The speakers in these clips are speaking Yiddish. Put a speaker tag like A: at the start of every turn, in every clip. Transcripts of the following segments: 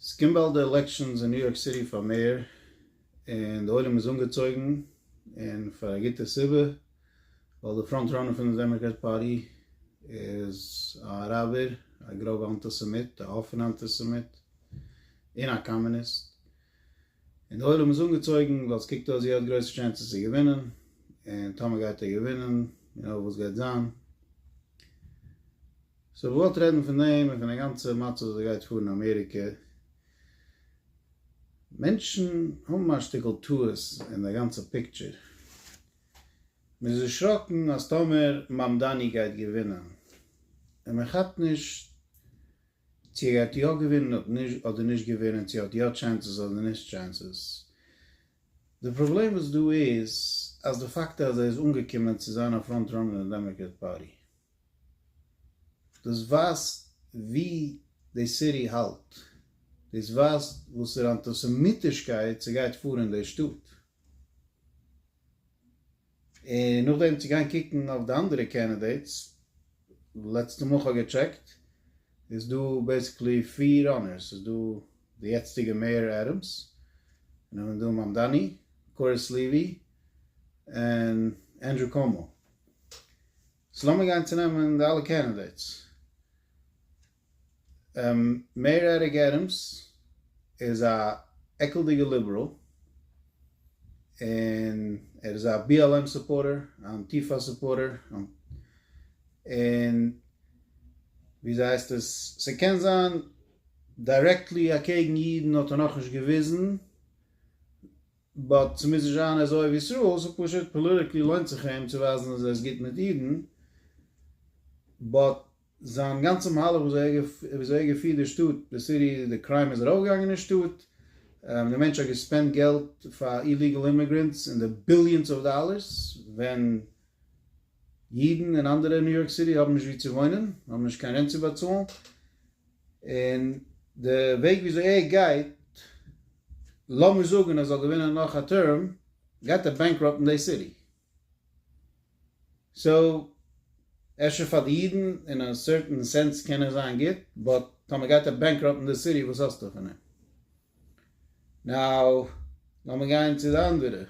A: ס'קומט באלד די עלעקשאנס אין ניו יארק סיטי פאר מעיאר, און די עולם איז אנגעצויגן, און פאר א גוטע סיבה, ווייל די פראנט ראנער פון די דעמאקראט פארטי איז א אראבער, א גראבע אנטיסעמיט, א אפענע אנטיסעמיט, און א קאמוניסט, און די עולם איז אנגעצויגן, ווייל ס'קוקט אויס ווי ער האט גרויסע טשענסעס צו געווינען, און טאמער גייט ער געווינען, און אויב וואס גייט זיין, סאו מ'וואלט רעדן פון דעם און פון די גאנצע מצב וואס גייט פאר אין אמעריקע. מענטשן האבן א שטיקל טעות אין די גאנצע פיקטשער. מ'איז דערשראקן אז טאמער מאמדאני גייט געווינען, און מ'כאפט נישט צו ער גייט יא געווינען אדער נישט געווינען, צו ער האט יא טשענסעס אדער נישט טשענסעס. די פראבלעם וואס דא איז אז די פאקט אז ער איז אנגעקומען צו זיין א פראנט ראנער אין דעמאקרעט פארטי. דאס ווייזט ווי די סיטי האלט, דאס ווייזט וואסערע אנטיסעמיטישקייט ס'גייט פאר אין די שטאט, און נאכדעם צו גיין קוקן אויף די אנדערע קענדידעיטס, לעצטע מאל כ'האב געטשעקט איז דא בעסיקלי פֿיר ראנערס, ס'איז דא די יעצטיגע מעיאר עדעמס, און נאכדעם איז דא מאמדאני, קוריס לעווי, און ענדרו קאומא, סאו לאמיר גיין צו נעמען די אלע קענדידעיטס. מעיאר עריק עדעמס איז א עקלדיגע ליבעראל, און ער איז א BLM סופארטער, א אנטיפא סופארטער, און וויאזוי הייסט עס, ס'קען זיין דיירעקטלי אקעגן אידן האט ער נאכנישט געוויזן, באט ס'מוז נישט זיין אז אוהב ישראל ס'איז פשוט פאליטיקלי לוינט זיך אים צו ווייזן אז ער איז גוט מיט אידן, באט זיין גאנצע מהלך וויאזוי ער געפירט די שטאט, די סיטי, די קריים איז ארויפגעגאנגען אין שטאט, די מענטש האט געספענדט געלט פאר איליגעל אימיגרענטס אין די ביליאנס אוו דאלערס ווען. אידן און אנדערע אין ניו יארק סיטי האבן נישט וואו צו וואוינען, האבן נישט קיין רענט צו באצאלן, און די וועג וויאזוי ער גייט, לאמיר זאגן ער זאל געווינען נאך א טערם, גייט ער בענקראפטן די סיטי. סאו, אפשר פאר די אידן אין א סערטען סענס קען ער זיין גוט, באט טאמער גייט ער בענקראפטן די סיטי, וואס האסטו פון אים? נאו, לאמיר גיין צו די אנדערע,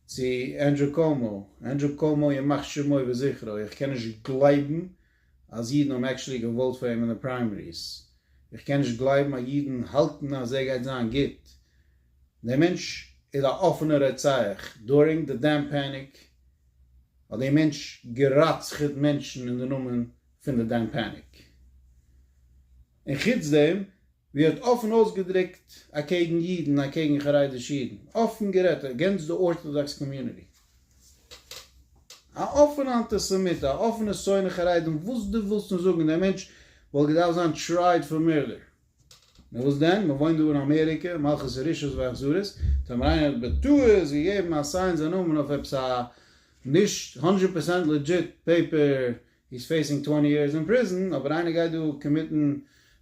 A: צו ענדרו קאומאו, ענדרו קאומאו ימח שמו וזכרו, איך קען נישט גלייבן אז אידן האבן עקטשולי געוואוט פאר אים אין די פריימעריס, איך קען נישט גלייבן אז אידן האלטן אז ער גייט זיין גוט, דער מענטש איז א אפענע רוצח, דורינג די דעם פעניק האט דער מענטש גערצח'ט מענטשן אין די נאמען פון די דעם פעניק, און חוץ דעם. ווי ער האט אפן אויסגעדרוקט אקעגן אידן, אקעגן חרדישע אידן, אפן גערעדט אגענסט די ארטאדאקס קאמיוניטי. א אפענע אנטיסעמיט, א אפענע שונא חרדים, וואס דו ווילסט נישט זאגן, דער מענטש וואלט געדארפט זיין טרייעד פאר מערדער. נו וואס דען, מען וואוינט דא אין אמעריקע, מלכות הרשעות ואכזרית, טאמער איינער האט בטעות געגעבן א סיין זיין נאמען אויף עפעס א נישט הונדרעט פערסענט לעדזשיט פעיפער הי איז פעיסינג טווענטי יערס אין פריזן, אבער איינער גייט דא קאמיטן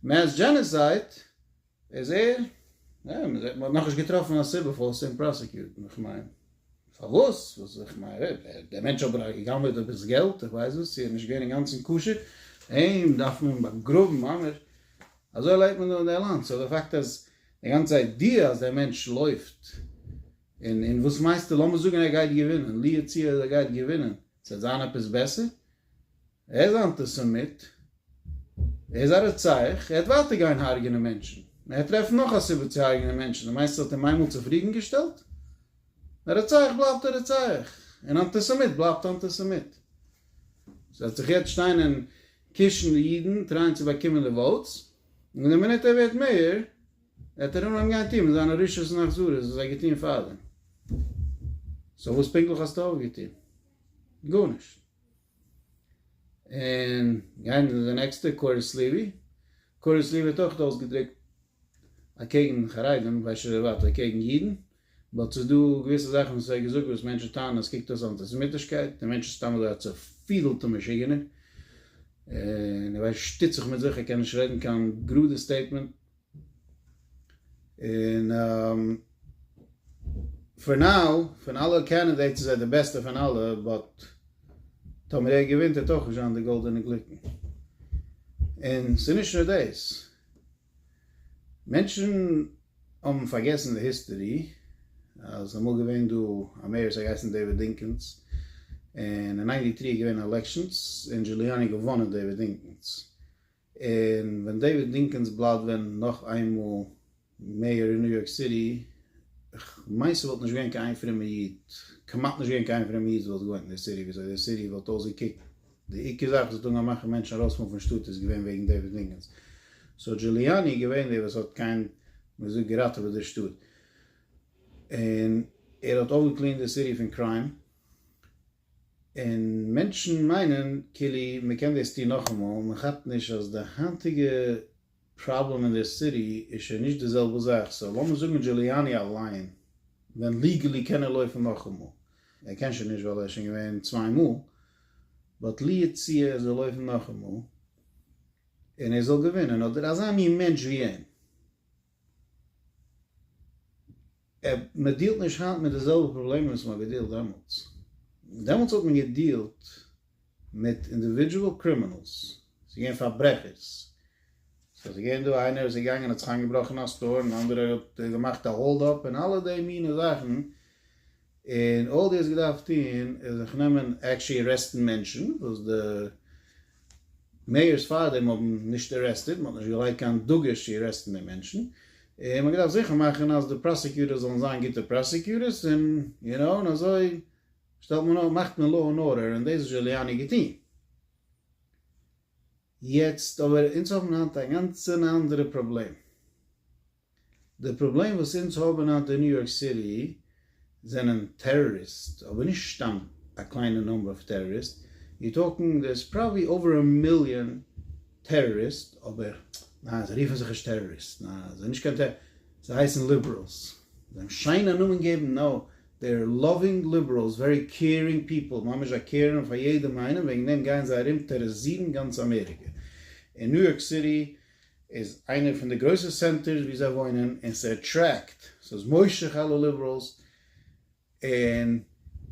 A: מעס דזשענעסייד איז ער, יא, מען האט נאכנישט געטראפן א סיבה פארוואס צו אים פראסעקיוטן, איך מיין, פארוואס, וואס, איך מיין, דער מענטש האט בטח גע'גנב'עט עפעס געלט, איך ווייס וואס, צו ער איז נישט געווען אינגאנצן כשר, אים דארף מען באגראבן, ממש, אזוי לעבט מען דא אין די לאנד, סאו די פאקט אז די גאנצע איידיע אז דער מענטש לויפט, און און וואס מיינסטו, לאמיר זאגן ער גייט געווינען, לו יצוייר ער גייט געווינען, ס'וועט זיין עפעס בעסער? ער איז א אנטיסעמיט, ער איז א רוצח, ער וועט ווייטער גיין הרג'נען מענטשן, און ער וועט טרעפן נאך א סיבה צו הרג'נען מענטשן, דו מיינסט עס האט אים איינמאל צופרידנגעשטעלט? א רוצח בלייבט א רוצח, און אנטיסעמיט בלייבט אנטיסעמיט. ס'וועט זיך יעצט שטיין און קישן די אידן טרייען צו באקומען די וואוטס, און די מינוט ער ווערט מעיאר, ער האט ארום אהיים גיין טוהן מיט זיינע רשעות און אכזריות וואס ער האט געטוהן פארדעם. סאו וואס פונקטליך האסטו אויפגעטוהן? גארנישט. און גיין די נעקסטע קורת לוי, קורת לוי האט אויך אויסגעדרוקט אקעגן חרדים, כ'ווייס נישט אויב ווייטער אקעגן אידן, באט ס'איז דא געוויסע זאכן וואס ער האט געזאגט וואס מענטשן טענה'ן אז קוקט אויס אנטיסעמיטישקייט, דער מענטש איז סתם אזוי א צעפידלטע משוגענער, און ער ווייסט שטיצעך מיט זיך, ער קען נישט רעדן קיין גראדע סטעיטמענט. און פאר נאו פון אלע קענדידעיטס איז ער די בעסטע פון אלע באט טאמער ער געווינט וועט אויך נישט זיין די גאלדענע גליקן און ס'איז נישט נאר דאס מענטשן האבן פארגעסן די היסטערי אז ס'איז אמאל געווען דא א מעיאר ס'האט געהייסן דעיוויד דינקינס און אין ניינטי טרי איז געווען עלעקשאנס און דזשוליאני געוואנען דעיוויד דינקינס און ווען דעיוויד דינקינס בלייבט ווען נאך איינמאל מעיאר אין ניו יארק סיטי, איך מיין ס'וואלט נישט געווען קיין איין פרומע איד, כמעט נישט געווען קיין איין פרומע איד וואלט געוואוינט אין די סיטי, וויאזוי די סיטי וואלט אויסגעקוקט, די עיקר זאך וואס האט אנגעהויבן מאכן מענטשן ארויסמופן פון שטאט איז געווען וועגן דעיוויד דינקינס, סאו דזשוליאני איז געווען דער וואס האט קיין מען זאגט געראטעוועט די שטאט, און ער האט אויפגעקלינט די סיטי פון קריים. און מענטשן מיינען כאילו מען קען דאס טון נאכאמאל, מען כאפט נישט אז די היינטיגע פראבלעם אין די סיטי איז שוין נישט די זעלבע זאך, סאו לאמיר זאגן דזשוליאני אליין ווען ליגעלי קען ער לויפן נאכאמאל, ער קען שוין נישט ווייל ער איז שוין געווען צוויי מאל, באט לו יצוייר ער זאל לויפן נאכאמאל און ער זאל געווינען, אדער אזא מין מענטש ווי אים. מען דיעלט נישט היינט מיט די זעלבע פראבלעמען וואס מען האט געדיעלט דעמאלטס, דעמאלטס האט מען געדיעלט מיט אינדיווידזשועל קרימינעלס, ס'איז געווען פארברעכערס, ס'איז געווען דא איינער וואס איז געגאנגען האט זיך איינגעבראכן אין א סטאר און אנדערער האט געמאכט א האלד אפ און אלע די מיני זאכן, און אלל די האסט געדארפט טון איז זיך נעמען עקשעלי ארעסטן מענטשן וואס די מעיארס פארדעם האבן נישט ארעסטעד, מען האט נישט געלייגט קיין דגוש צו ארעסטן די מענטשן, און מען האט געדארפט זיכער מאכן אז די פראסעקיוטערס זאלן זיין גוטע פראסעקיוטערס און יו נאו און אזוי שטעלט מען מאכט מען לאו ענד ארדער און דאס האט זשוליאני געטון. יעצט אבער אונז האבן היינט א גאנץ אן אנדערע פראבלעם. די פראבלעם וואס אונז האבען היינט אין ניו יארק סיטי זענען טעראריסט, אבער נישט סתם א קליינע נומבער אויף טעראריסט, יו טאלקינג דער איז פראבעלי אווער א מיליאן טעראריסט, אבער ניין זיי רופען זיך נישט טעראריסט, ניין זיי זענען נישט קיין טעראריסט, זיי הייסען ליבעראלס, זיי האבען שיין א נאמען געבען, נאו דעי אר לאווינג ליבעראלס, ווערי קעירינג פיפעל, ממש זיי קעירען פאר יעדעם איינעם, וועגען דעם גייען זיי ארום טעראריזירען גאנץ אמעריקע, אין ניו יארק סיטי. איז איינע פון די גרויסע סענטערס ווי זיי וואוינען און ס'עטרעקט, ס'איז מושך אלע ליבעראלס און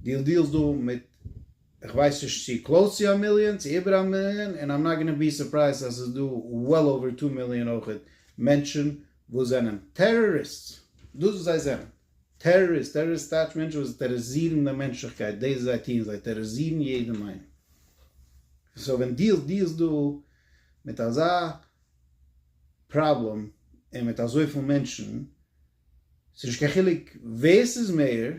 A: דיעל דיעלס דא מיט כ'ווייס נישט צו קלאוס צו א מיליאן צו איבער א מיליאן און איים נאט גאנא בי סורפרייזד אז ס'איז דא וועל אווער טו מיליאן אויכעט מענטשען וואס זענען טעראריסטס דאס וואס זיי זענען טעראריסט טעראריסט טייטש מענטשען וואס טעראריזירן די מענטשליכקייט דאס וואס זיי טוען זיי טעראריזירן יעדעם איינעם סאו ווען דיעל דיעלס דא מיט אזא פראבלעם און מיט אזויפיל מענטשן, ס'איז נישט קיין חילוק ווער ס'איז מעיאר,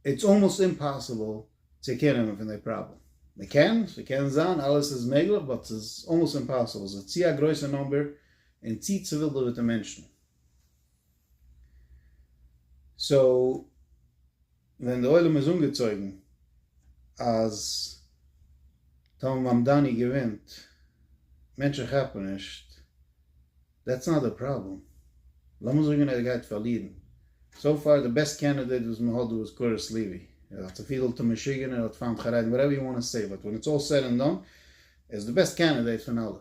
A: איטס אלמאסט אימפאסיבל צו קעיר נעמען פון די פראבלעם. מ'קען, ס'קען זיין, אלעס איז מעגליך, באט ס'איז אלמאסט אימפאסיבל, ס'איז צו א גרויסע נומבער און צו צעווילדעוועטע מענטשן. סאו ווען די עולם איז אנגעצויגן אז טאמער מאמדאני געווינט מענטשן כאפן נישט, דעטס נאט די פראבלעם, לאמיר זאגן ער גייט פארלירן, סאו פאר די בעסט קענדידעט וואס מען האט דא איז קורות לעווי, ער איז א צופידעלטע משוגענער, ער האט פיינט חרדים, וואטעווער יו וואנט טו סעי, באט ווען איטס אלל סעד ענד דאן, ער איז די בעסט קענדידעט פון אלע.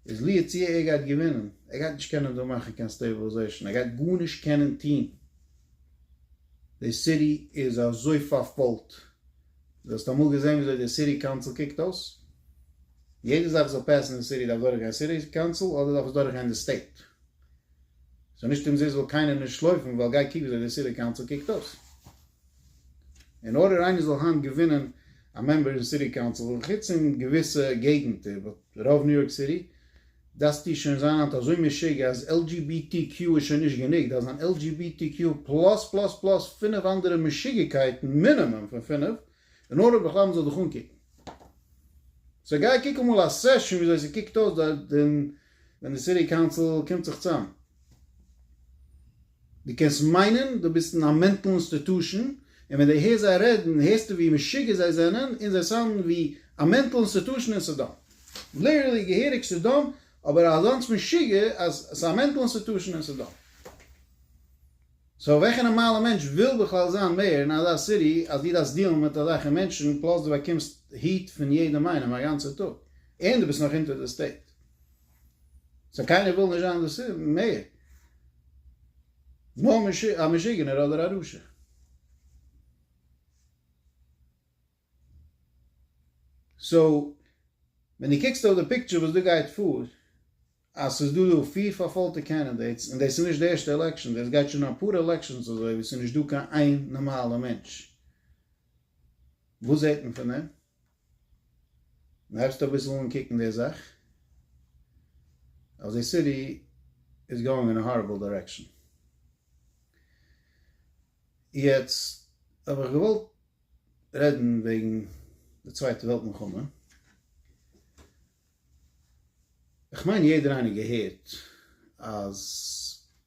A: איז לו יצוייר ער גייט געווינען, ער גייט נישט קענען דא מאכן קיין סטעיבעלעזעישאן, ער גייט גארנישט קענען טוהן, די סיטי איז אזוי פארפוילט, דו האסט אמאל געזען וויאזוי די סיטי קאונסיל קוקט אויס? יעדע זאך זאל פעסן אין סיטי דארף דורכגיין סיטי קאונסיל אדער דארף עס דורכגיין די סטעיט? סאו נישט אומזיסט וויל קיינער נישט לויפן ווייל גיי קוק וויאזוי די סיטי קאונסיל קוקט אויס. אין ארדער איינער זאל היינט געווינען א מעמבער אין סיטי קאונסיל, חוץ אין געוויסע געגנטער, באט רוב ניו יארק סיטי, דארפסטו שוין זיין היינט אזוי משוגע אז LGBTQ איז שוין נישט גענוג, דארפסט זיין LGBTQ פלאס פלאס פלאס פינף אנדערע משוגעקייטן, מינימום פון פינף, אין ארדער בכלל מען זאל דיך אנקוקן. סאו גיי קוק אמאל א סעשאן וויאזוי ס'קוקט אויס דארט ווען די סיטי קאונסיל קומט זיך צאם. דו קענסט מיינען דו ביסט אין א מענטל אינסטיטושען, און ווען דו הערסט זיי רעדן הערסטו ווי משוגע זיי זענען, און זיי סאונדן ווי א מענטל אינסטיטושען אין סדום. ליטערלי געהעריג סדום, אבער אזאנס משוגע אז ס'איז א מענטל אינסטיטושען אין סדום. סאו וועלכע נארמאלע מענטש וויל בכלל זיין מעיאר אין אזא סיטי אז דו דארפסט דיעלן מיט אזעלכע מענטשן, פלאס דו באקומסט היעט פון יעדעם איינעם א גאנצע טאג, און דו ביסט נאך אונטער די סטעיט. סא קיינער וויל נישט זיין דאס מער, נאר א משוגענער אדער א רשע. סא ווען דו קוקסט אויף די פיקטשער וואס דא גייט פאר, אז ס'איז דא דא פיר פארפאלטע קענדידעיטס, און דאס איז נישט די ערשטע עלעקשאן, דאס גייט שוין אפאר עלעקשאנס אזוי ווי ס'איז נישט דא קיין איין נארמאלע מענטש, וואס זעט מען פון דעם? העסטו אביסל אנקוקן די זאך אז די סיטי איז גאואינג אין א הארעבל דירעקשאן. יעצט האב איך געוואלט רעדן וועגן די צווייטע וועלט מלחמה. כ'מיין יעדער איינער געהערט אז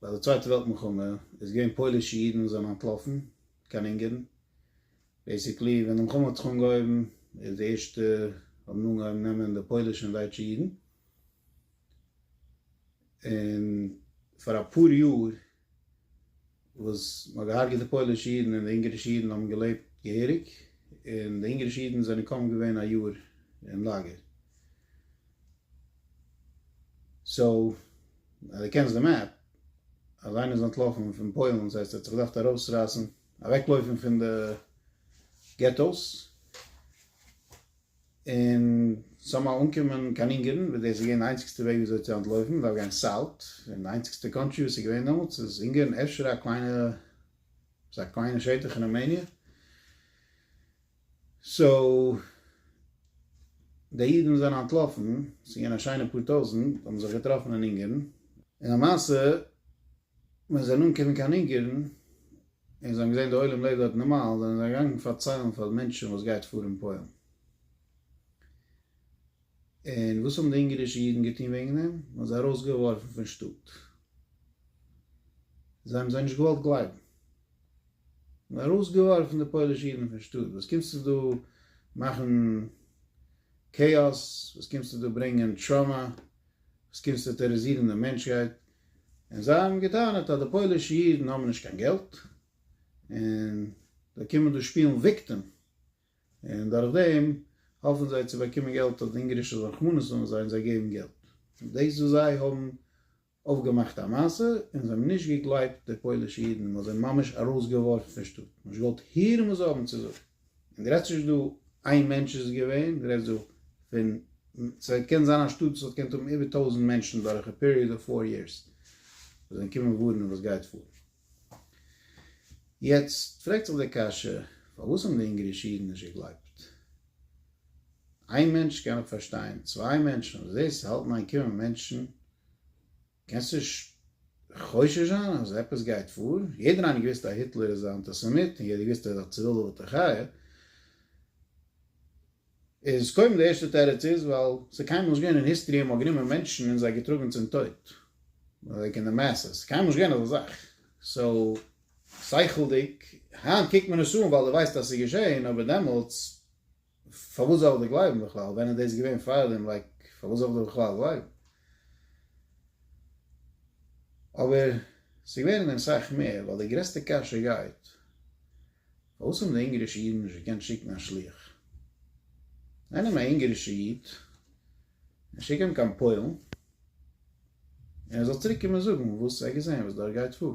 A: ביי די צווייטע וועלט מלחמה איז געווען פוילישע אידן וואס זענען אנטלאפן קיין אונגערן, בעיסיקלי ווען די מלחמה האט זיך אנגעהויבן איז די ערשטע האבן אנגעהויבן נעמען די פוילישע און דייטשע אידן, און פאר אפאר יאר וואס מען האט געהארגעט די פוילישע אידן און די אונגערישע אידן האבן געלעבט געהעריג, און די אונגערישע אידן זענען קוים געווען א יאר אין לאגער. סאו אז דו קענסט די מעפ, אז איינער איז אנטלאפן פון פוילן ס'הייסט ער האט זיך געדארפט ארויסרייסן אוועקלויפן פון די געטאוס און סאמהאו אנקומען קיין אונגערן וואס דאס איז געווען די איינציגסטע וועג וויאזוי צו אנטלויפן מ'דארף גיין סאוט און די איינציגסטע קאנטרי וואס איז געווען דעמאלטס איז אונגערן אפשר א קליינע ס'איז א קליינע שטח אין ראמעניע סאו די אידן זענען אנטלאפן ס'איז געווען א שיינע פאר טויזנט האבן זיך געטראפן אין אונגערן און למעשה ווען זיי זענען אנגעקומען קיין אונגערן, און זיי האבן געזען די עולם לעבט דארט נארמאל, זענען זיי געגאנגען פארציילן פאר די מענטשן וואס גייט פאר אין פוילן. און וואס האבן די אונגערישע אידן געטון וועגן דעם? מען האט זיי ארויסגעווארפן פון שטאט. זיי האבן זיי נישט געוואלט גלייבן. מען האט ארויסגעווארפן די פוילישע אידן פון שטאט, וואס קומסטו דא מאכן כאאס, וואס קומסטו דא ברענגען טראמא, וואס קומסטו טעראזירן די מענטשהייט, און זיי האבן געטענה'ט אז די פוילישע אידן האבן נישט קיין געלט, און זיי קומען דא שפילן וויקטעם, און דורך דעם האפן זיי צו באקומען געלט אז די אונגארישע זאלן רחמנות האבן אויף זיי און זיי געבן געלט. און דאס וואס זיי האבן אויפגעמאכט א מעשה, און זיי האבן נישט געגלייבט די פוילישע אידן, מען האט זיי ממש ארויסגעווארפן פון שטאט, נישט געוואלט הערן וואס זיי האבן צו זאגן. און די רעדסט נישט דא איין מענטש איז געווען, די רעדסט דא פון ס'וועט קען זיין א שטאט וואס האט געקענט האבן איבער טויזנט מענטשן דורך א פיריעד אוו פאר יערס וואס זענען געקומען ווארענען וואס גייט פאר. יעצט פרעגט זיך די קשיא פארוואס האבן די אונגערישע אידן נישט געגלייבט? איין מענטש קען איך פארשטיין, צוויי מענטשן, אבער דאס האלטן איין קומען מענטשן קענסט נישט חושש זיין אז עפעס גייט פאר, יעדער איינער האט געוויסט אז היטלער איז א אנטיסעמיט און יעדער האט געוויסט אז ער איז א צעווילדער ווילדער חיה, איז קודם די ערשטע תירוץ איז ווייל ס'איז קיינמאל נישט געווען אין היסטערי אז מ'האט גענומען מענטשן און זיי געטראגן צום טויט, לייק אין די מעסעס, ס'איז קיינמאל נישט געווען אזא זאך, סאו שכל'דיג, היינט קוקט מען עס אן ווייל דו ווייסט אז ס'איז געשען, אבער דעמאלטס. פארוואס זאל איך דיר גלייבן בכלל? ווען איז דאס געווען פארדעם? לייק פארוואס זאל איך דיר בכלל גלייבן? אבער ס'איז געווען און אסאך מער, ווייל די גרעסטע קשיא גייט, פארוואס האבן די אונגערישע אידן נישט געקענט שיקן א שלוח? זיי נעמען א אונגערישע איד און שיקן אים קיין פוילן, און ער זאל צוריק קומען זאגן וואס ער האט געזען וואס דארט גייט פאר.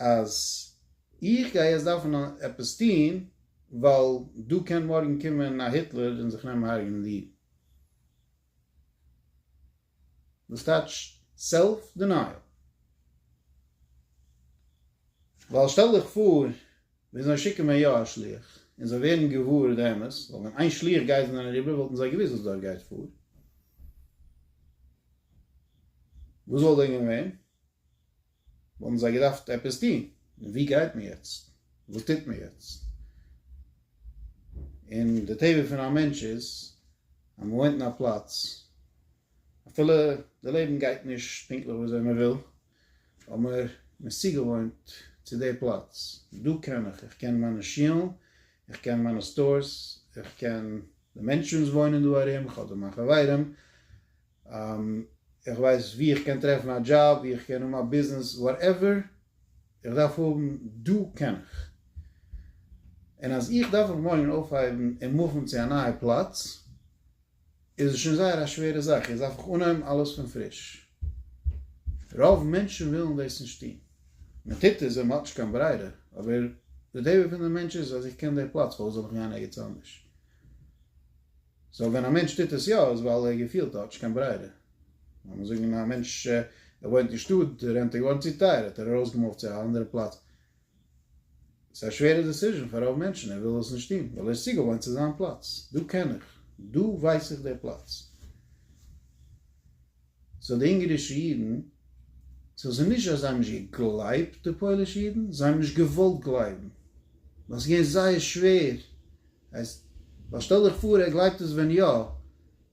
A: אז איך גיי יעצט דארפן עפעס טוהן ווייל דא קען מארגן קומען א היטלער און זיך נעמען הרג'נען די אידן. דאס טייטש סעלף דענייעל. ווייל שטעל דיך פאר ווען זיי שיקן מען יא א שליח און זיי ווערן געוואר די אמת, ווייל ווען איין שליח גייט זענען אריבער וואלטן זיי געוואוסט וואס דארט גייט פאר, וואס וואלט דען געווען? וואלטן זיי געדארפט עפעס טון, און וואו גייט מען יעצט? וואס טוט מען יעצט? און די טבע פון א מענטש איז אז מען וואוינט אין א פלאץ, אפילו די לעבן גייט נישט פונקטליך וויאזוי מען וויל, אבער מען איז צוגעוואוינט צו די פלאץ, דא קען איך, איך קען מיינע שולן, איך קען מיינע סטארס, איך קען די מענטשן וואס וואוינען דא ארום, איך האב דא מיין חברים, איך ווייס ווי איך קען טרעפן א דזשאב, ווי איך קען האבן א ביזנעס, וואטעווער איך דארף האבן, דא קען איך. און אז איך דארף מיך מארגן אויפהייבן און מופן צו א נייע פלאץ, איז עס שוין זייער א שווערע זאך, יעצט דארף איך אנהייבן אלעס פון פריש. רוב מענטשן ווילן דאס נישט טון. מען טוט עס ווייל מען האט נישט קיין ברירה, אבער די טבע פון די מענטש איז אז איך קען די פלאץ, פארוואס זאל איך גיין ערגעץ אנדערש? סאו ווען א מענטש טוט עס יא איז ווייל ער געפילט ער האט נישט קיין ברירה. לאמיר זאגן א מענטש ער וואוינט אין שטאט די רענט איז געווארן צו טייער האט ער ארויסגעמופט צו א אנדערע פלאץ. ס'איז א שווערע דעסיזשען פאר רוב מענטשן ער וויל עס נישט טון ווייל ער איז צוגעוואוינט צו זיין פלאץ דא קען איך דא ווייס איך די פלאץ. סאו די אונגארישע אידן סאו ס'איז נישט אז זיי האבן נישט געגלייבט די פוילישע אידן זיי האבן נישט געוואלט גלייבן ווייל ס'איז געווען זייער שווער. הייסט, ווייל שטעל דיך פאר ער גלייבט עס ווען יא,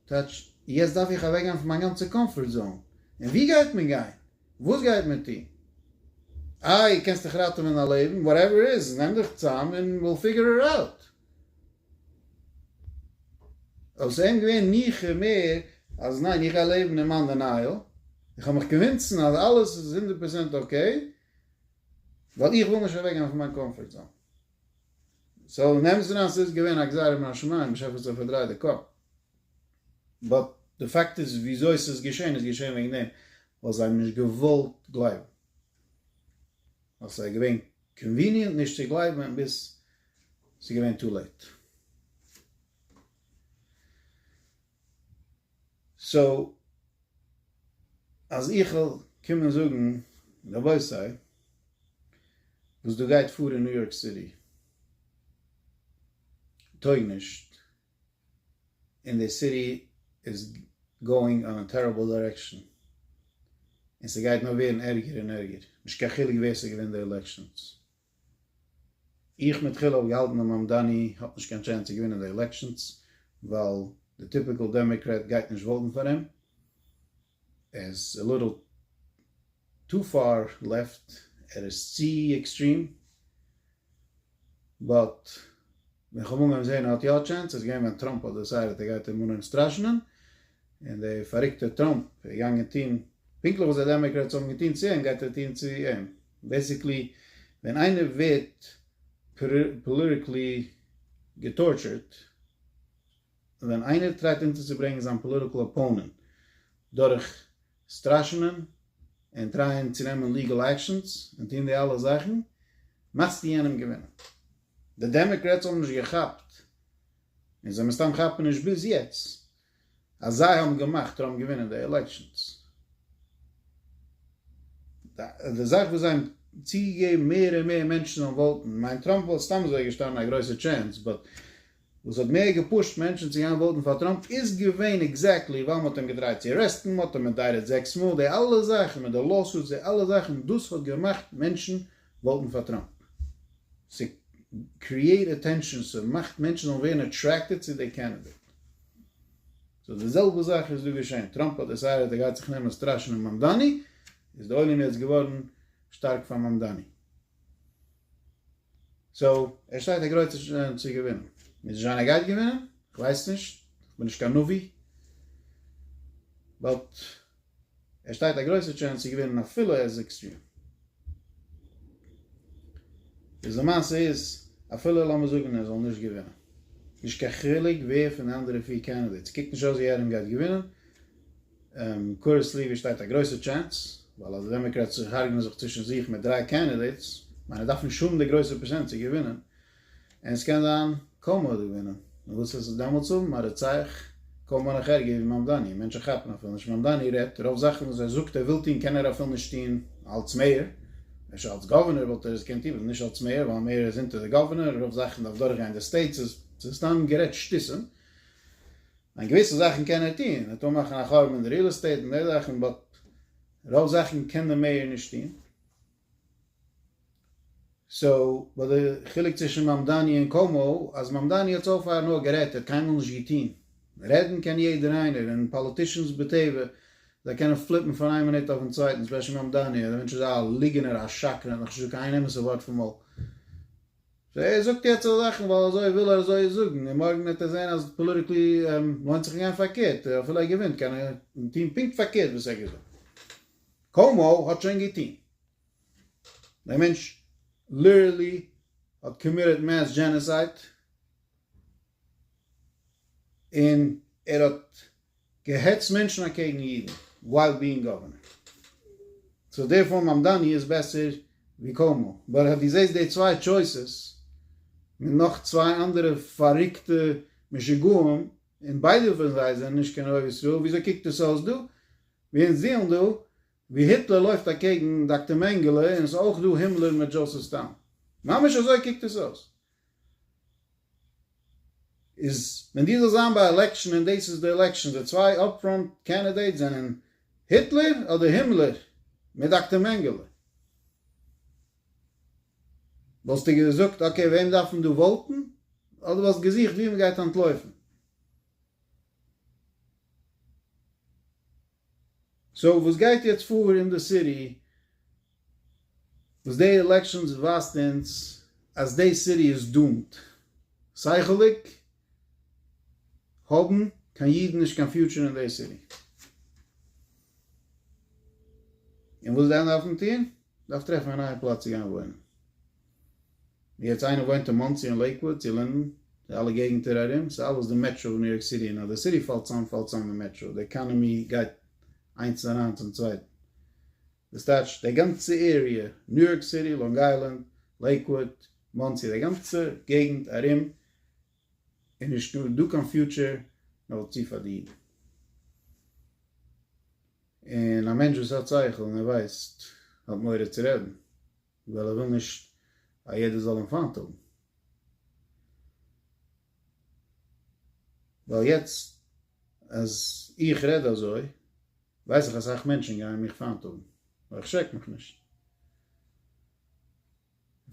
A: טייטש יעצט דארף איך אוועק גיין פון מיין גאנצע קאמפארט זאון, און ווי גייט מען גיין? וואס גייט מען טון? איי קענסט דיך ראטעווען א לעבן? וואטעווער איט איז, נעם דיך צאם און וויל פיגור איט אוט. אויב ס'ווער אים געווען ניחא מער אז ניין איך גיי לעבן אין מיין דענייעל, איך האב מיך קעווינסן אז אלעס איז הונדערט פראצענט אקעי, ווייל איך וויל נישט אוועק גיין פון מיין קאמפארט זאון. סאו נעמסט אן אז סאיז געווען א גזירה מן השמים נישט עפעס זיי פארדרייט די קאפ באט די פאקט איז וויאזוי סאיז געשען איז געשען וועגן דעם ווייל זיי האבן נישט געוואלט גלייבן ווייל סאיז געווען קאנוויניענט נישט צו גלייבן ביז סאיז געווען טו לעיט. סאו אז איך וועל קומען זאגן רבותי וואס דא גייט פאר אין ניו יארק סיטי טויג נישט און די סיטי איז גאוינג אן א טעריבל דירעקשאן און ס'גייט נאר ווערן ערגער און ערגער נישט קיין חילוק ווער ס'געווינט די עלעקשאנס איך מתחילה האב געהאלטן אז מאמדאני האט נישט קיין טשענס צו געווינען די עלעקשאנס ווייל די טיפיקעל דעמעקרעט גייט נישט וואוטן פאר אים, ער איז א ליטעל טו פאר לעפט, ער איז צו עקסטרים, באט ווען כ'האב אנגעהויבן זעהן ער האט יא א טשענס איז געווען ווען טראמפ האט דעסיידעט ער גייט אים אנהויבן סטראשענען, און דער פאריקטער טראמפ איז געגאנגען טוהן פונקטליך וואס די דעמעקרעטס האבן געטוהן צו אים גייט ער טוהן צו אים. בעסיקלי ווען איינער ווערט פאליטיקלי געטארטשערט, ווען איינער טרייט אונטערצוברענגען זיין פאליטיקל אפאונענט דורך סטראשענען און טרייען צו נעמען ליגעל עקשאנס און טוהן די אלע זאכן, מאכסטו יענעם געווינען. די דעמעקרעטס האבן נישט געכאפט און זיי מסתם כאפן נישט ביז יעצט אז זיי האבן געמאכט טראמפ געווינען די עלעקשאנס. די זאך וואס זיי האבן צוגעגעבן מער און מער מענטשן זאלן וואוטן, מיינט טראמפ וואלט סתם אזוי געשטאנען א גרויסע טשענס, באט וואס האט מער געפושט מענטשן צו גיין וואוטן פאר טראמפ איז געווען עקזעקטלי ווייל מען האט אים געטרייט צו ארעסטן, מען האט אים אינדייטעד זעקס מאל, די אלע זאכן מיט די לאוסוטס, די אלע זאכן, דאס האט געמאכט מענטשן וואוטן פאר טראמפ. ס'קריעט אטענשאן, ס'מאכט מענטשן זאלן ווערן אטרעקטעד צו די קענדידעט. סאו די זעלבע זאך איז דא געשען, טראמפ האט דעסיידעט ער גייט זיך נעמען סטראשענען מאמדאני, איז די עולם יעצט געווארן שטארק פאר מאמדאני. סאו ער שטייט א גרויסע שאנס צו געווינען. מוז נישט זיין ער גייט געווינען, כ'ווייס נישט, כ'בין נישט קיין נביא, באט. ער שטייט א גרויסע טשענס צו געווינען אפילו ער איז עקסטרים. איז די מעשה איז אפילו לאמיר זאגן ער זאל נישט געווינען נישט קיין חילוק ווער פון די אנדערע פיר קענדידעטס קוקט נישט אויס ווי ערעם גייט געווינען קורעסלי ווי שטייט א גרויסע טשענס ווייל אז די דעמעקרעטס הארגענען זיך צווישן זיך מיט דריי קענדידעטס מיין ער דארף נישט האבן די גרויסע פראצענט צו געווינען און עס קען זיין קאומא האט געווינען, און וואס איז עס דאמאלטס האבן א רוצח קאומא נאך ערגער ווי מאמדאני, מענטשן כאפן אפילו נישט, מאמדאני רעדט רוב זאכן וואס ער זאגט ער וויל טוהן קען ער אפילו נישט טוהן אלץ מעיאר, אפשר אלץ גאווערנער וואלט ער עס געקענט טוהן אבער נישט אלץ מעיאר ווייל מעיאר איז אונטער די גאווערנער, רוב זאכן דארף דורך גיין די סטעיט, ס'איז סתם גערעדט שטותים, ניין געוויסע זאכן קען ער טוהן, ער טאר מאכן א חורבן אין די ריעל עסטעיט און די זאכן באט רוב זאכן קען די מעיאר נישט טוהן. סאו וואס די חילוק צווישן מאמדאני און קאומאו אז מאמדאני האט סאו פאר נאר גערעדט ער האט קיינמאל נישט געטוהן, רעדן קען יעדער איינער און פאליטישאנס בטבע זיי קענען פליפן פון איין מינוט אויפן צווייטן ספעשל מאמדאני אז די מענטש איז א ליגענער א שקרן ער האט נאך נישט געזאגט קיין איין אמת'ע ווארט פון מויל סאו ער זאגט יעצט אזא זאכן ווייל אזוי וויל ער אזוי זאגן און מארגן וועט ער זעהן אז פאליטיקלי לוינט זיך אים גיין פארקערט אפילו ער געווינט קען ער טוהן פונקט פארקערט וואס ער האט געזאגט. קאומאו האט שוין געטוהן. דער מענטש ליטערלי האט קאמיטעד מעס דזשענעסייד, און ער האט געהעצט מענטשן אקעגן אידן ווייל בינג גאווערנער. סאו דערפאר מאמדאני איז בעסער ווי קאומאו. באט אז דו זעסט די צוויי טשויסעס מיט נאך צוויי אנדערע פאריקטע משוגעים, און ביידע פון זיי זענען נישט קיין אוהב ישראל, וויאזוי קוקט עס אויס דא? ווי אונז זעהן דא ווי היטלער לויפט אקעגן דאקטער מענגעלע און עס אויך דא הימלער מיט דזשאוסעף סטאלין. ממש אזוי קוקט עס אויס. איז ווען דו זאלסט זיין ביי עלעקשען און דאס איז די עלעקשען די צוויי אפ פראנט קענדידעיטס זענען היטלער אדער הימלער מיט דאקטער מענגעלע. וואלסטו געזאגט אקעי וועם דארף מען דא וואוטען אדער וואלסט געזוכט ווי מען גייט אנטלויפען? סאו וואס גייט יעצט פאר אין די סיטי? וואס די עלעקשאנס ווייזט אונז אז די סיטי איז דאומד. שכל'דיג האבן קיין אידן נישט קיין פיוטשער אין די סיטי. און וואס זיי דארפן טון? דארף טרעפן א נייע פלאץ צו גיין וואוינען. יעצט איינער וואוינט אין מאנסי אין לעיקוואד צו לינדען די אלע געגענטער ארום סאיז אלעס די מעטרא וואס ניו יארק סיטי און אז די סיטי פאלט צאם פאלט צאם די מעטרא די עקאנעמי גייט איינס אריין צום צווייטן דאס טייטש די גאנצע עריע ניו יארק סיטי לאנג איילענד לעיקוואד מאנסי די גאנצע געגענט ארום איז נישט דא קיין פיוטשער נאר צו פארדינען און א מענטש וואס האט שכל און ער ווייסט האט מורא צו רעדן. ווייל ער וויל נישט א יעדער זאל אים פיינט האבן. ווייל יעצט אז איך רעד אזוי ווייס איך אסאך מענטשן גייען מיך פיינט האבן, אבער איך שרעק מיך נישט.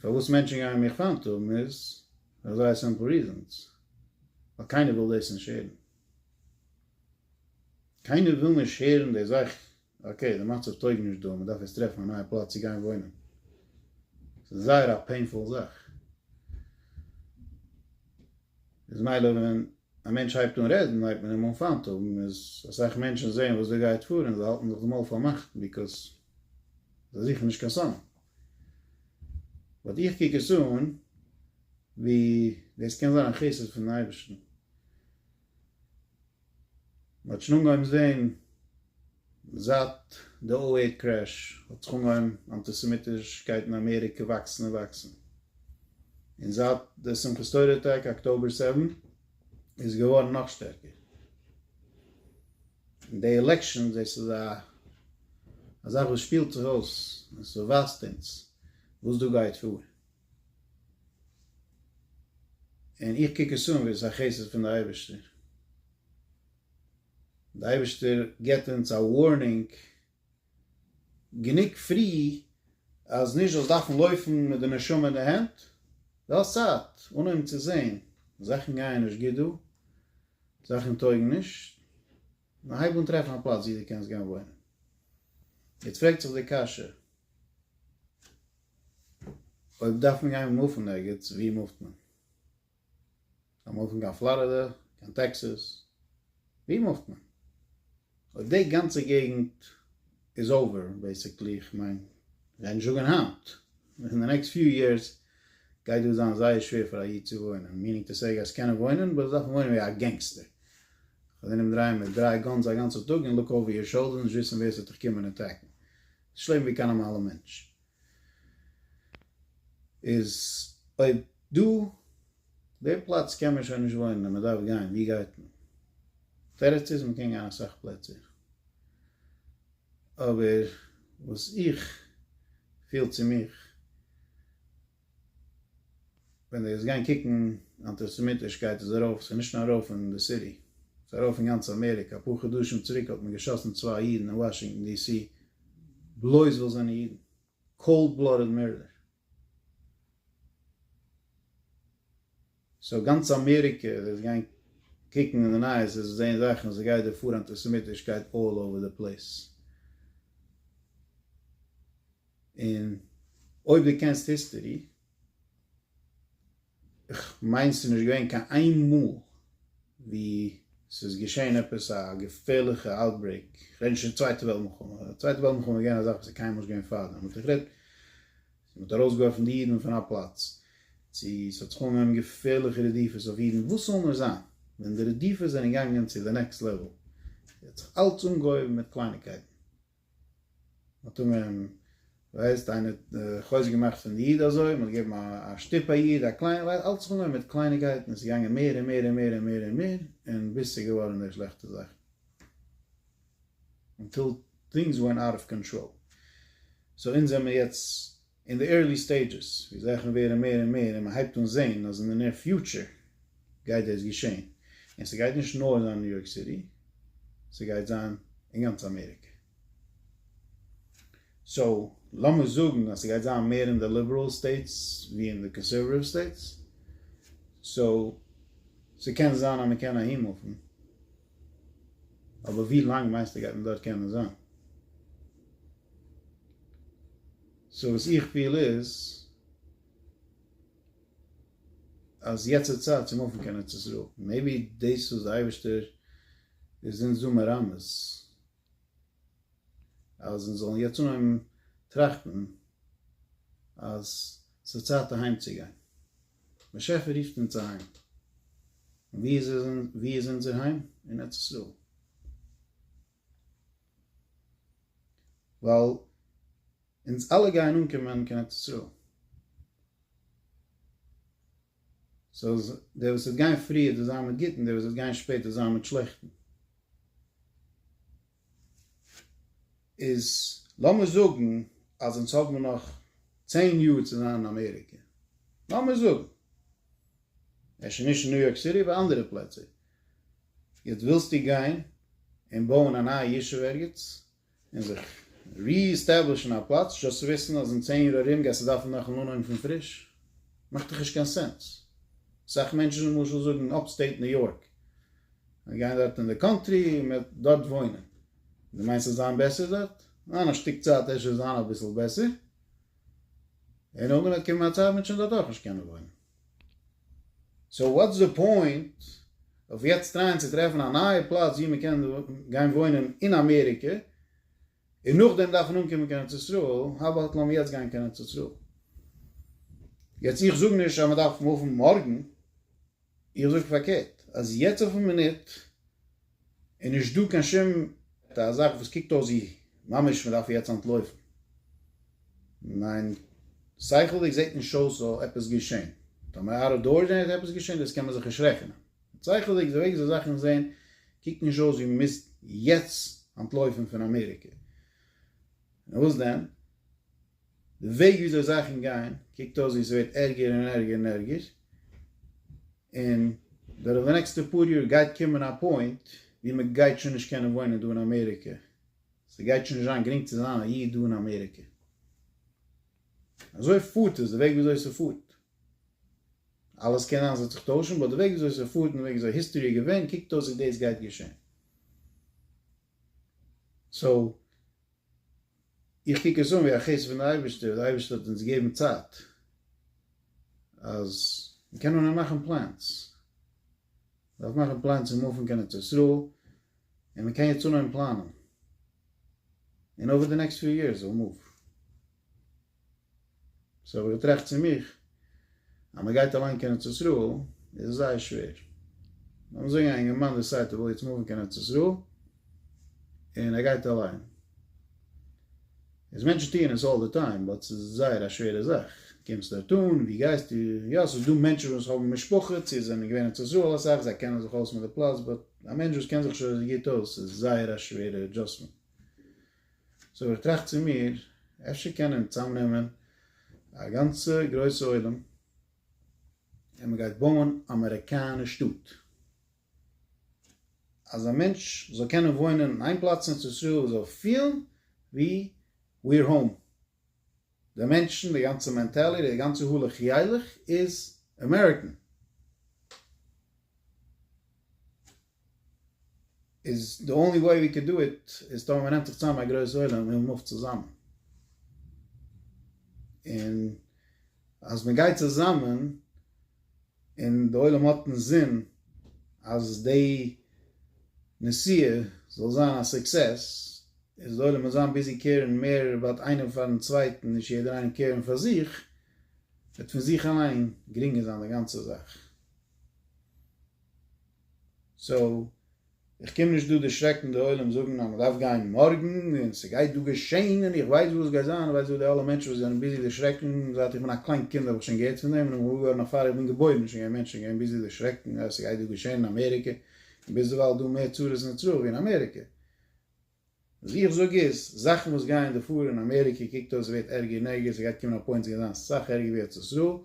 A: פארוואס מענטשן גייען מיך פיינט האבן איז פאר זייער סימפל ריזענס, ווייל קיינער וויל דאס נישט הערן. קיינער וויל נישט הערן די זאך אקעי, די מצב טויג נישט דא, מ'דארף יעצט טרעפן א נייע פלאץ צו גיין וואוינען. ס'איז זייער א פעינפול זאך. איז מילא ווען א מענטש הייבט אן רעדן הייבט מען אים אן פיינט האבן, איז אסאך מענטשן זעען וואס דא גייט פאר און זיי האלטן זיך די מויל פארמאכט ביקאוז זיי זוכן נישט קיין סם. באט איך קוק עס אן ווי דאס קען זיין א חסד פונעם אייבערשטן. מ'האט שוין אנגעהויבן זעהן זייט די או עי קרעש האט זיך אנגעהויבן אנטיסעמיטישקייט אין אמעריקע וואקסן און וואקסן, און זייט די שמחת תורה אטאקע אקטאבער סעווען איז עס געווארן נאך שטערקער, און די עלעקשאנס דאס איז א זאך וואס שפילט זיך אויס און ס'ווייזט אונז וואס דא גייט פאר. און איך קוק עס אן ווי עס איז א חסד פון די אייבערשטער, די אייבערשטער געבט אונז א ווארנינג גענוג פרי אז נישט זאלסט דארפן לויפן מיט די נשמה אין די הענט די האסט צייט אנהויבן צו זען זאכן גייען נישט גוט דא, זאכן טויגן נישט. נו הייב אן טרעפן א פלאץ ווי דו קענסט גיין וואוינען. יעצט פרעגט זיך די קשיא, אויב דארף מען גיין מופן ערגעץ, וואו מופט מען? זאל מען מופן קיין פלארידע? קיין טעקסעס? וואו מופט מען? אויב די גאנצע געגנט איז אווער בעסיקלי, כ'מיין זיי נישט זאגען היינט, אין די נעקסט פיו יערס גייט דא זיין זייער שווער פאר א איד צו וואוינען, מינינג טו סעי גייסט קענען וואוינען באט וועסט דארפן וואוינען ווי א גענגסטער, כ'וועל דיר אומדרייען מיט דריי גאנס א גאנצע טאג און לוק אווער יור שאולדער נישט וויסען ווער ס'וועט דיך קומען אטעקן, ס'נישט לעבן ווי קיין נארמאלע מענטש. איז אויב דא די פלאץ קען מען שוין נישט וואוינען און מען דארף גיין ווי גייט מען? תירוץ איז מען קען גיין אסאך פלעצער אבער וואס איך פיל צו מיך ווען די וועסט גיין קוקן אנטיסעמיטישקייט איז ארויף, סאיז נישט נאר ארויף אין די סיטי, סאיז ארויף אין גאנץ אמעריקע, אפאר חדשים צוריק האט מען געשאסן צוויי אידן אין וואשינגטאן די סי בלויז וויל זענען אידן, קאלד בלאדעד מערדער. סאו גאנץ אמעריקע די וועסט גיין קוקן אין די נייעס וועסט זעהן זאכן סאיז גייט דא פאר אנטיסעמיטישקייט אלל אווער די פלעיס. און אויב דו קענסט היסטערי, איך מיין ס'איז נישט געווען קיין איין מאל ווי ס'איז געשען עפעס א געפערליכע אוטברעיק, איך רעד נישט פון צווייטע וועלט מלחמה, ווייל צווייטע וועלט מלחמה איז געווען א זאך וואס איז קיינמאל נישט געווען פארדעם, אבער איך רעד מען האט ארויסגעווארפן די אידן פון א פלאץ, צו ס'האט זיך אנגעהויבן געפערליכע רדיפות אויף אידן, וואס זאל נאר זיין, ווען די רדיפות זענען געגאנגען צו די נעקסט לעוועל, האט זיך אלץ אנגעהויבן מיט קלייניקייטן, מ'האט אומרים ווייסט איינער חוזק געמאכט פון די איד אזוי, מ'האט געגעבן א שטופ א איד, א קליינע, ווייסט אלץ זיך אנגעהויבן מיט קלייניגקייטן, עס איז געגאנגען מער און מער און מער און מער און מער, און ביז ס'איז געווארן די שלעכטע זאכן, אנטיל טינגס ווענט אוט אוו קאנטראל, סאו אונז זעמיר יעצט אין די ערלי סטעידזשעס ווי זאכן ווערן מער און מער און מען הייבט אן זעהן אז אין די נער פיוטשער גייט דאס געשעהן און ס'גייט נישט נאר זיין ניו יארק סיטי ס'גייט זיין אין גאנץ אמעריקע סאו לאמיר זאגן אז ס'גייט זיין מער אין די ליבעראל סטעיטס ווי אין די קאנסערוואטיוו סטעיטס סאו ס'קען זיין אז מען קען אהין מופן אבער ווי לאנג מיינסטו גייט מען דארט קענען זיין? סאו וואס איך פיל איז אז יעצט איז צייט צו מופן קיין ארץ ישראל, מעיבי דאס איז די אייבערשטער איז אונז דא מרמז אז אונז זאלן יעצט אנהויבן טראכטן אז ס'איז צייט אהיים צו גיין, באשעפער רופט אונז אהיים, און ווי איז אונזער היים? אין ארץ ישראל. ווייל אונז אלע גייען אנקומען קיין ארץ ישראל, סאו די וואס וועט גיין פריער וועט זיין מיט גוטן, די וואס וועט גיין שפעט וועט זיין מיט שלעכטן, איז לאמיר זאגן אז אונז האבן נאך צען יאר צו זיין אין אמעריקע, לאמיר זאגן, אפשר נישט אין ניו יארק סיטי, אבער אנדערע פלעצער, יעצט ווילסטו גיין און בויען א נייע ישוב ערגעץ, און זיך ריעסטעבלישן א פלאץ, זשאסט צו וויסן אז אין צען יאר ארום גייסטו דארפן נאכאמאל אנהויבן פון פריש? מאכט דאך נישט קיין סענס. אסאך מענטשן למשל זאגן אפסטעיט ניו יארק, זיי גייען דארט אין די קאנטרי און מען וועט דארט וואוינען. דו מיינסט ס'וועט זיין בעסער דארט? ניין, א שטיק צייט אפשר וועט זיין אביסל בעסער, און נאכדעם וועט קומען א צייט ווען מען וועט שוין דארט אויך נישט קענען וואוינען. סאו וואטס די פוינט אויף יעצט טרייען צו טרעפן א נייע פלאץ ווי מ'קען גיין וואוינען אין אמעריקע און נאכדעם דארפן אנקומען קיין ארץ ישראל, האו אבאוט לאמיר יעצט גיין קיין ארץ ישראל. יעצט איך זאג נישט אז מ'דארף מופן מארגן, איך זאג פארקערט אז יעצט אויפן מינוט, און נישט דא קיין שום א זאך וואס קוקט אויס ווי ממש מען דארף יעצט אנטלויפן, מיין שכל'דיג זעט נישט אויס ס'זאל עפעס געשען, טאמער אאוט אוו דארס זענען עפעס געשען דאס קען מען זיך נישט רעכענען, שכל'דיג די וועג וויאזוי זאכן זעהן קוקט נישט אויס ווי מען מוז יעצט אנטלויפן פון אמעריקע, נאר וואס דען די וועג וויאזוי זאכן גייען קוקט אויס ווי ס'ווערט ערגער און ערגער און ערגער. און דורך די נעקסטע פאר יאר גייט קומען א פוינט ווי מען גייט שוין נישט קענען וואוינען דא אין אמעריקע, ס'גייט שוין נישט זיין גרינג צו זיין א איד דא אין אמעריקע. אזוי פארט עס, די וועג וויאזוי ס'פארט. אלעס קען זיין ס'וועט זיך טוישן, באט די וועג וויאזוי ס'פארט און די וועג וויאזוי היסטערי איז געווען, קוקט אויס ווי דאס גייט געשען. סאו איך קוק עס אן ווי א חסד פון די אייבערשטער, די אייבערשטער האט אונז געגעבן צייט אז מיר קענען נאר מאכן פלענס, מ'דארף מאכן פלענס צו מופן קיין ארץ ישראל, און מ'קען יעצט אנהויבן פלאנען, און אווער די נעקסט פיו יערס וויל מוף. סאו האב איך געטראכט צו מיך, אז מען גייט אליין קיין ארץ ישראל איז עס זייער שווער. לאמיר זאגן א אינגערמאן דעסיידט ער וויל יעצט מופן קיין ארץ ישראל, און ער גייט אליין. איז מענטשן טוען עס אלל די טיים, באט ס'איז זייער א שווערע זאך. קומסט דארט אן, ווי גייסטו? יא, ס'איז דא מענטשן וואס האבן משפחות, צו זענען געווען אין ארץ ישראל אסאך, זיי קענען זיך אויס מיט די פלאץ, באט א מענטש וואס קען זיך שוין אזוי גוט אויס, ס'איז זייער א שווערע אדזשאסטמענט. סאו איך טראכט צו מיר, אפשר קען מען צאמנעמען א גאנצע גרויסע עולם און מען גייט בויען אמעריקאנע שטאט, אז א מענטש זאל קענען וואוינען אין איין פלאץ אין ארץ ישראל און זאל פילן ווי וויער האום, די מענטשן, די גאנצע מענטעלי, די גאנצע הלך ילך איז אמעריקען. איז די אנלי וועי ווי קען דא איט איז טאמער מ'נעמט זיך צוזאם א גרויס עולם און מופט צוזאמען און אז מ'גייט צוזאמען און די עולם האט אינזין אז די נסיעה זאל זיין א סוקסעס איז די עולם אינזין ביזי קעירן מער אבאוט איינער פארן צווייטן נישט יעדער איינעם קעירן פאר זיך וועט פון זיך אליין גרינגער זיין די גאנצע זאך. סאו איך קום נישט דא דערשרעקן די עולם זאגן אז מ'דארף גיין מארגן און ס'גייט דא געשעהן און איך ווייס וואס גייט זיין, איך ווייס וואס די אלע מענטשן וואס זענען ביזי דערשרעקן, זייט איך בין א קליין קינד האב איך שוין געהערט פון דעם און איך בין געוואר געווארן נאך פאר איך בין געבוירן איז שוין געווען מענטשן געווען ביזי דערשרעקן אז ס'גייט דא געשעהן אין אמעריקע און ביזדערווייל איז דא מער צרות נצרות ווי אין אמעריקע וואס איך זאג איז, זאכן וואס גייען דא פאר אין אמעריקע קוקט אויס ווערט ערגער און ערגער, ס'גייט קומען א פוינט ס'גייט זיין סאך ערגער ווי ארץ ישראל,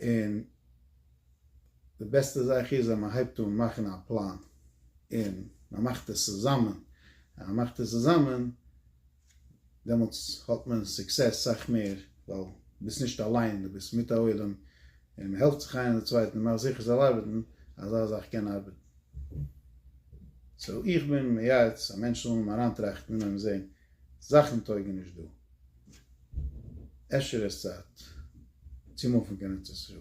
A: און די בעסטע זאך איז אז מ'הייבט אן מאכן א פלאן, און מ'מאכט עס צוזאמען, ווען מ'מאכט עס צוזאמען, דעמאלטס האט מען סוקסעס סאך מער, ווייל ביסט נישט אליין, דו ביסט מיט א עולם, און מען העלפט זיך איינער די צווייטן, מאך זיכער זאל ארבעטן, אזא זאך קען ארבעטן. סאו איך בין מייעץ א מענטש זאל נאר אריינטראכטן און אויבן זעהן זאכן טויגן נישט דא, אפשר איז צייט צו מופן קיין ארץ ישראל.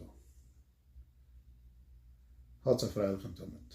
A: האטס א פרייליכן תמיד.